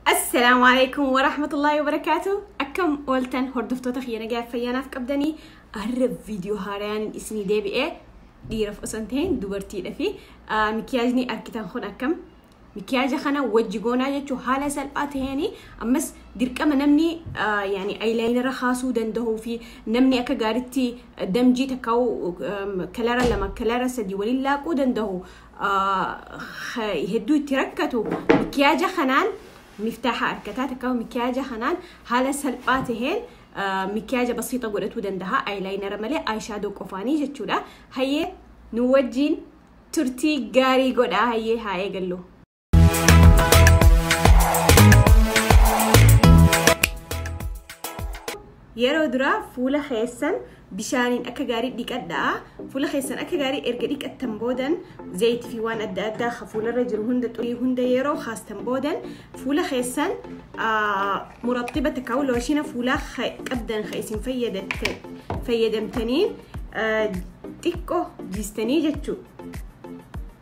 Assalaamu alaikum wa rahmatullahi wa barakaatu. Akkam ooltan hordoftoota kiyya nagaa fayyaanaaf qabdanii har'a viidiyoo haarayaan isinii deebi'ee dhiiraaf osoo hin ta'in dubartiidha fi mikiyaajni argitan kun akkam mikiyaaja kana wajji goonaa jechuun haala salphaa ta'een ammas dirqama namni yaani ayilaayinara kaasuu danda'uu fi namni akka gaaritti damjii takkaa'u kalara lama kalara sadii waliin laaquu danda'u hedduu itti rakkatu mikiyaaja kanaan miftaaha arkataa takkaa mikiyaaja kanaan haala salphaa taheen mikiyaaja basiixa godhatuu dandaha ayilaayinara malee ayishaadoo qofaanii jechuudha hayyee nu wajjiin turtii gaarii godhaa hayyee haa eegallu. yeroo duraa fuula keessan bishaaniin akka gaarii dhiqadhaa fuula keessan akka gaarii erga dhiqattan boodan zayitii fi waan adda addaa ka fuularra jiru hunda xurii hunda yeroo kaastan boodan fuula keessan murattiba takka looshina fuulaa qabdan ka isin fayyadamtaniin xiqqoo jiistanii jechuudha.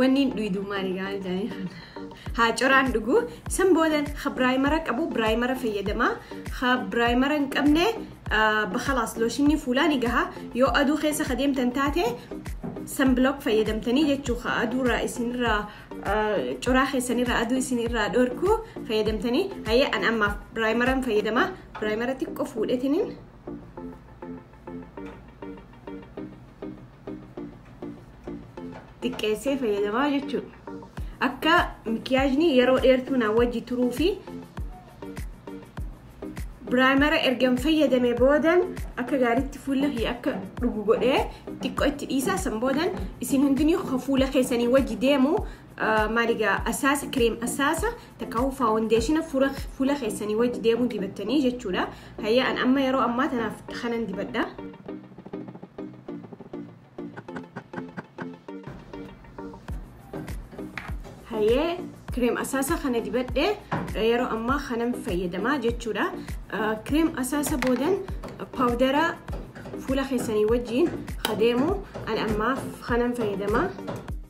Wanni hin dhuyduu maali gaa'an jedhanii kan haa coraan dhuguu san boodan ha biraayimara qabu biraayimara fayyadama ha biraayimara hin qabne bakalaas looshinni fuulaa ni gaha yoo aduu keessa ka deemtan taate san bilook fayyadamtanii jechuu ka aduurraa isinirraa coraa keessanirraa aduu isinirraa dhorku fayyadamtanii hayyee an ammaaf biraayimaran fayyadama biraayimara xiqqoo fuudhetiniin xiqqeessee fayyadamaa jechuudha. Akka mikiyaajni yeroo dheertuu na wajji turuu fi biraayimara ergan fayyadame boodan akka gaariitti fuula kiyya akka dhugu godhee xiqqoo itti dhiisaa san boodan isin hundinii fuula keessanii wajji deemu maaligaa asaasa kireem asaasa takkaahuu faawundeeshina fuula keessanii wajji deemuu dibattanii jechuudha. Hayya an amma yeroo ammaa tanaaf kanan dibadha. Hayyee kireem asaasa kana dibadhe yeroo ammaa kanan fayyadamaa jechuudha. Kireem asaasa boodan paawudara fuula keessanii wajjiin adeemu an ammaaf kanan fayyadamaa.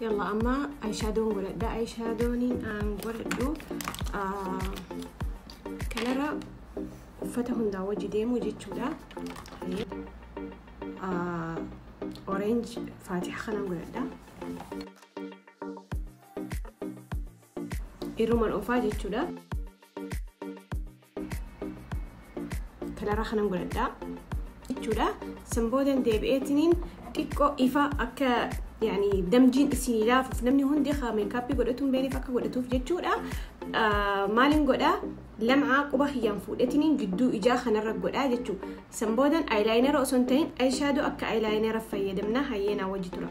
yalla amma ayishaadoon godhadha ayishaadooniin aan godhadhu kanarra uffata hundaa wajji deemuu jechuudha orange faatiha kanaan godhadha irruman ofaa jechuudha kanaraa kanan godhadhaa jechuudha san boodan deebi'eetiniin xiqqoo ifa akka yani damjiin isin ilaafuuf namni hundi haa meekaappii godhatuun beeniif akka godhatuuf jechuudha maaliin godhaa lam'aa quba kiyyaan fuudhetiniin gidduu ijaa kanarra godhaa jechuu san boodan ayilaayinara osoo hin ta'in ayishaadoo akka ayilaayinara fayyadamna hayyeenaa wajji tura.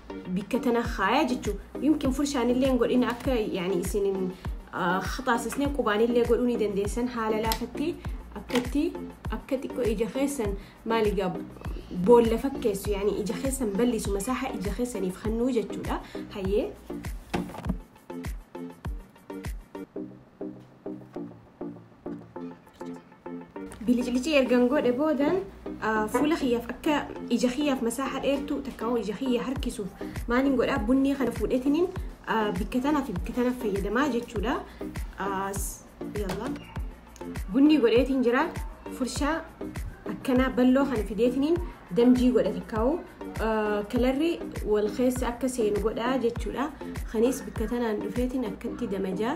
bikka tana kaaya jechu yumkin furshaanillee hin godhin akka yani isin hin haxaasisne qubaanillee godhuu ni dandeessan haala laafatti akkatti akka xiqqoo ija keessan maaligaa boolla fakkeessu yani ija keessan ballisu masaaha ija keessaniif hannuu jechuudha hayyee Biliclicii ergan godhe boodan fuula kiyyaaf akka ija kiyyaaf masaaxa dheertuu takka hoo ija kiyya harkisuuf maaliin godhaa bunnii kana fuudhetiniin bikka tanaa fi bikka tanaaf fayyadamaa jechuudha. Bunnii godheetiin jira furshaa akkanaa balloo kana fideetiniin damjii godha takka hoo kalarri wal keessa akka seenu godhaa jechuudha. Kanis bikka tanaan dhufeetiin akkatti damajaa.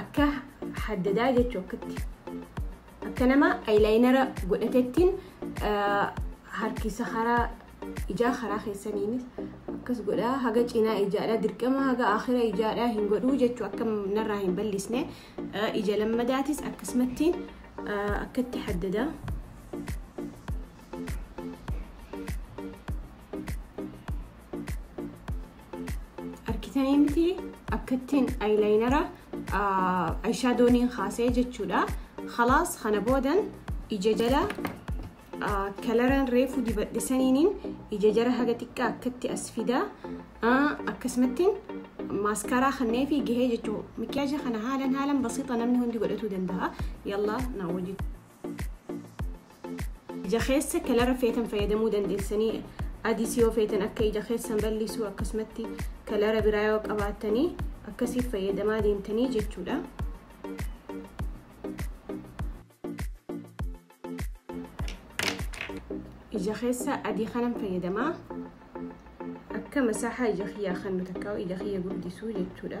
akka haddadaa jechuu akkatti akka nama ayilaayinara godhatettiin harkisa karaa ijaa karaa keessaniinis akkas godhaa haga cinaa ijaadhaa dirqama haga akira ijaadhaa hin godhuu jechuu akka narraa hin ballisne ija lammadaatis akkasumatti akkatti haddadaa. Argitanii miti akkattiin ayilaayinara ayishaadooniin kaasee jechuudha. Khalaas kana boodan ija jala kalaraan reefu dibadhisaniin ija jara haga xiqqaa akkatti as fida. Akkasumattiin maaskaraa kannee fi gahee jechuudha. Mikiyaaja kana haalan haalan basiixa namni hundi godhatuu danda'a. Yallaa naa wajjin. Ija keessa kalara feetan fayyadamuu dandeessanii adis yoo feetan akka ija keessan bal'isuu akkasumatti kalara biraa yoo qabaattanii akkasiif fayyadamaa deemtanii jechuudha. Ija keessa adii kanan fayyadamaa akka masaahaa ija kiyyaa kan takkaa ija kiyya guddisuu jechuudha.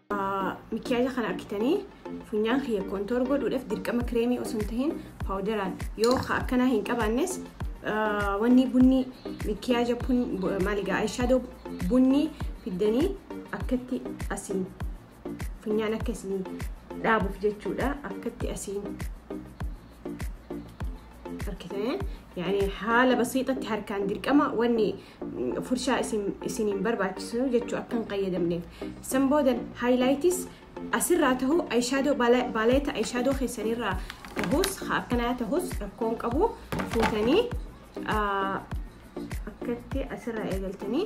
Mikiyaaja kana akkitanii funyaan kiyya kontoor godhuudhaaf dirqama kireemii osoo hin tahin paawudaraan yoo ka akkanaa hin qabaannes wanni bunni mikiyaaja maaligaa ayishaadoo bunni fiddanii akkatti asiin funyaan akka isin dhaabuuf jechuudha akkatti asiin harkitanii yaani haala basiixatti harkaan dirqama wanni furshaa isiniin barbaachisu jechuu akka hin qayyadamneef san boodan haayilaayitis asirraa tahuu ayishaadoo baaleeta ayishaadoo keessanirraa tahus akkanaa tahus rakkoon qabu fuutanii akkatti asirraa eegaltanii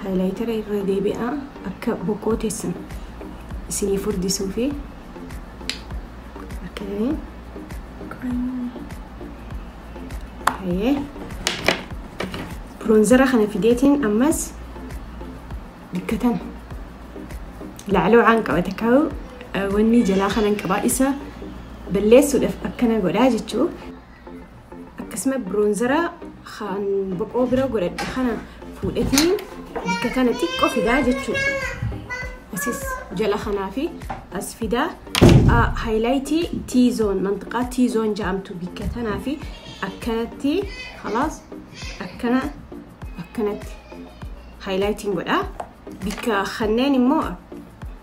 haayilaayitara irra deebi'aa akka bokkoo teessan isinii furdisuu fi akka biroonzara kana fideetiin ammas dikkatan lacloocaan qabate kaa'u wanni jalaa kanan qabaa isa balleessuudhaaf akkana godhaa jechuu akkasuma biroonzara kan boqoo bira godhadhe kana fuudhetii bakka kana xiqqoo fidaa jechuudha. Asis jala kanaa fi as fidaa haayilaayitii tiizoon mantiqaa tiizoon jedhamtu bakka tanaa fi akkanatti halaas akkana akkanatti haayilaayitiin godhaa. Bakka kanneen immoo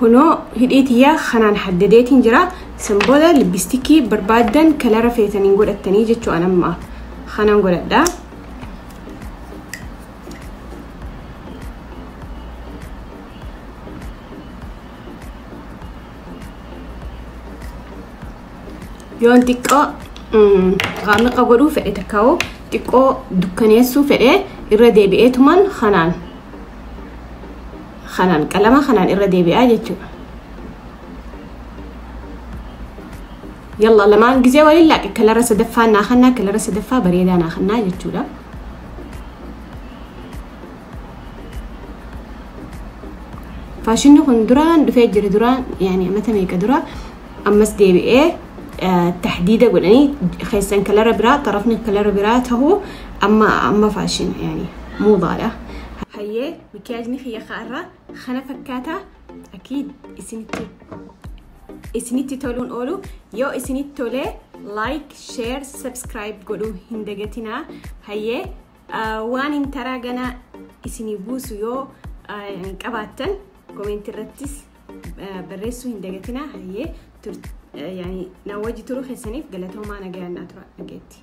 kunoo hidhii tiyyaa kanaan haddadeetiin jira san booda libbistikii barbaaddan kalara feetaniin godhattanii jechuu an amma kanaan godhadha yoon xiqqoo qaamiqa godhuu fedhe takkaa'u xiqqoo dukkaneessuu fedhe irra deebi'eetuman kanaan kanaan qalama kanaan irra deebi'aa jechuudha. Yalla lamaan gisee waliin laaqe kalara sadaffaa naa kannaa kalara sadaffaa bareedaa naa kannaa jechuudha. Faashinni kun duraan dhufee jira duraan yaani amata meeqa dura ammas deebi'ee tahdiida godhanii keessan kalara biraa xarafni kalara biraa tahuu amma amma faashin yani muudaadha. Hayyee mikiyaajni kiyya ka'arraa kana fakkaataa akiid isinitti isinitti toluun oolu yoo isinitti tolee like share subscribe godhuu hin dagatinaa hayyee waan hin taraa ganaa isinii buusu yoo qabaattan komeenti irrattis barreessuu hin dagatinaa hayyee na wajji turuu keessaniif galatoomaa nagayaan naa tura dhageetti.